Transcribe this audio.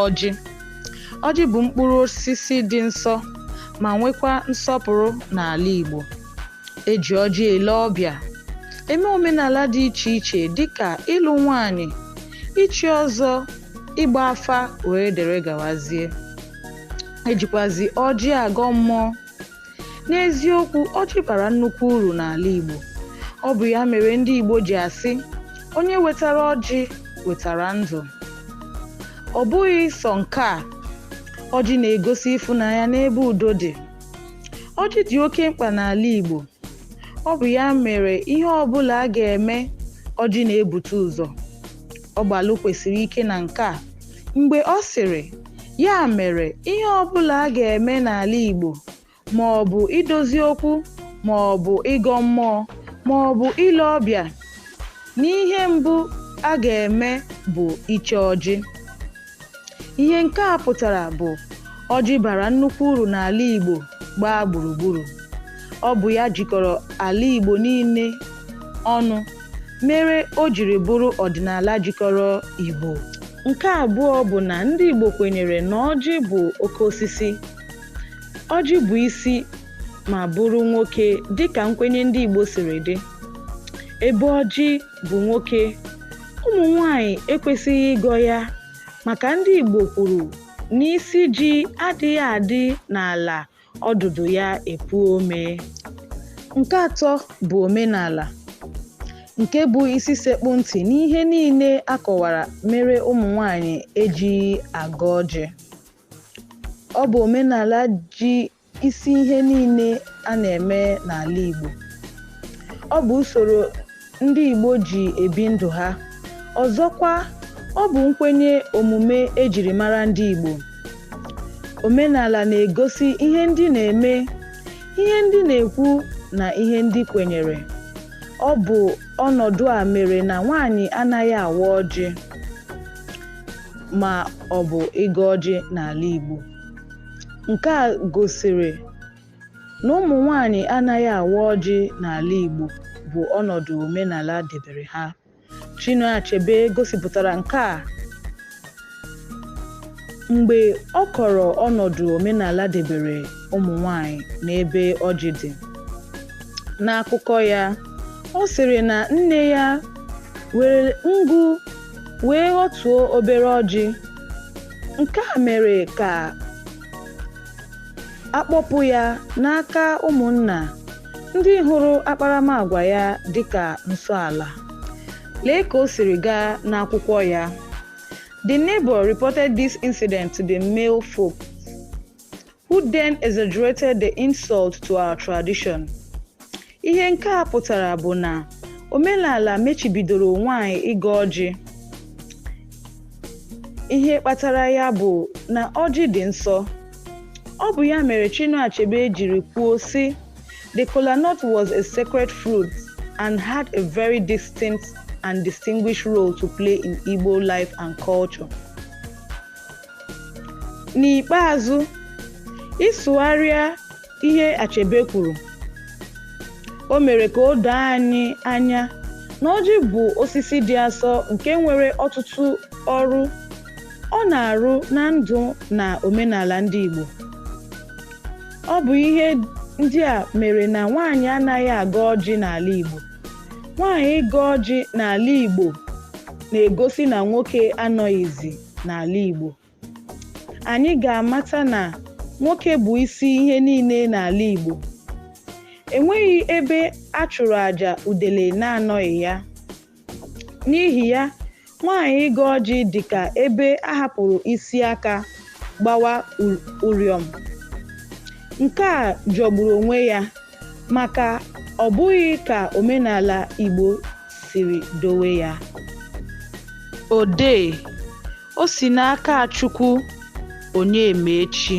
ọjị ọjị bụ mkpụrụ osisi dị nsọ ma nwekwa nsọpụrụ n'ala Igbo eji ọjị ele ọbịa eme omenala dị iche iche dịka ịlụ nwanyị ichi ọzọ ịgba afa wee dere gawazie ejikwazi ọjị agọ mmụọ N'eziokwu, ọjị bara nnukwu uru n'ala Igbo. Ọ bụ ya mere ndị Igbo ji asị, onye wetara ọjị wetara ndụ. Ọ bụghị sọ nke a, ọjị na-egosi ịfụnanya n'ebe udo dị. Ọjị dị oke mkpa n'ala Igbo. Ọ bụ ya mere ihe ọbụla a ga-eme, ọjị na-ebute ụzọ. Ọgbalụ kwusiri ike na nke a mgbe ọ sịrị, Ya mere ihe ọbụla a ga-eme n'ala Igbo ma ọ bụ idozi okwu ma ọ bụ ịgọ mmụọ ma ọ bụ ile ọbịa na ihe mbụ a ga-eme bụ iche ọjị. Ihe nke a pụtara bụ ọjị bara nnukwu uru n'ala Igbo gbaa gburugburu. Ọ bụ ya jikọrọ ala Igbo niile ọnụ mere o jiri bụrụ ọdịnala jikọrọ Igbo. Nke abụọ bụ na ndị Igbo kwenyere na ọjị bụ oke osisi. Ọjị bụ isi ma bụrụ nwoke dịka nkwenye ndị Igbo siri dị. Ebe ọjị bụ nwoke ụmụ nwanyị ekwesịghị ịgọ ya maka ndị Igbo kwuru na isi ji adịghị adị n'ala ọdụdụ ya epu ome nke atọ bụ omenala nke bụ isi sekpụ ntị n'ihe niile a kọwara mere ụmụ nwanyị ejighị agọ ọjị ọ bụ omenala ji isi ihe niile a na-eme n'ala Igbo. Ọ bụ usoro ndị Igbo ji ebi ndụ ha. Ọzọkwa, ọ bụ nkwenye omume e jiri mara ndị Igbo. Omenala na-egosi ihe ndị na-eme, ihe ndị na-ekwu na ihe ndị kwenyere. Ọ bụ ọnọdụ a mere na nwaanyị anaghị awa ọjị ma ọ bụ ịgọ ọjị n'ala Igbo. nke a gosiri na ụmụ nwanyị anaghị awa ọjị n'ala Igbo bụ ọnọdụ omenala debere ha. Chinua Achebe gosipụtara nke a mgbe ọ kọrọ ọnọdụ omenala debere ụmụ nwanyị n'ebe ọjị dị. N'akụkọ ya, ọ sịrị na nne ya were ngụ wee ghọtuo obere ọjị Nke a mere ka a kpọpụ ya n'aka ụmụnna ndị hụrụ akparamagwa ya dịka nsọ ala. Lee ka o siri gaa n'akwụkwọ ya. The neighbor reported this incident to the male folk. who then exaggerated the insult to our tradition. Ihe nke a pụtara bụ na omenala mechibidoro nwanyị ịgọ ọjị. Ihe kpatara ya bụ na ọjị dị nsọ. Ọ bụ ya mere Chinua Achebe jiri kwuo sị the kola nut was a sacred fruit and had a very distinct and distinguished role to play in Igbo life and culture. N'ikpeazụ, ịsụgharịa ihe Achebe kwuru, o mere ka o doo anyị anya na ọjị bụ osisi dị asọ nke nwere ọtụtụ ọrụ ọ na-arụ na ndụ na omenala ndị Igbo. Ọ bụ ihe ndị a mere na nwaanyị anaghị agọ ọjị n'ala Igbo. Nwaanyị ịgọ ọjị n'ala Igbo na-egosi na nwoke anọghịzi n'ala Igbo. Anyị ga-amata na nwoke bụ isi ihe niile n'ala Igbo. Enweghị ebe a chụrụ aja udele na-anọghị ya. N'ihi ya, nwaanyị ịgọ ọjị dị ka ebe a hapụrụ isi aka gbawa ụrịọm. Nke a jọgburu onwe ya. maka ọ bụghị ka omenala Igbo siri dowe ya. Odee, o si n'aka Chukwu Onyemaechi.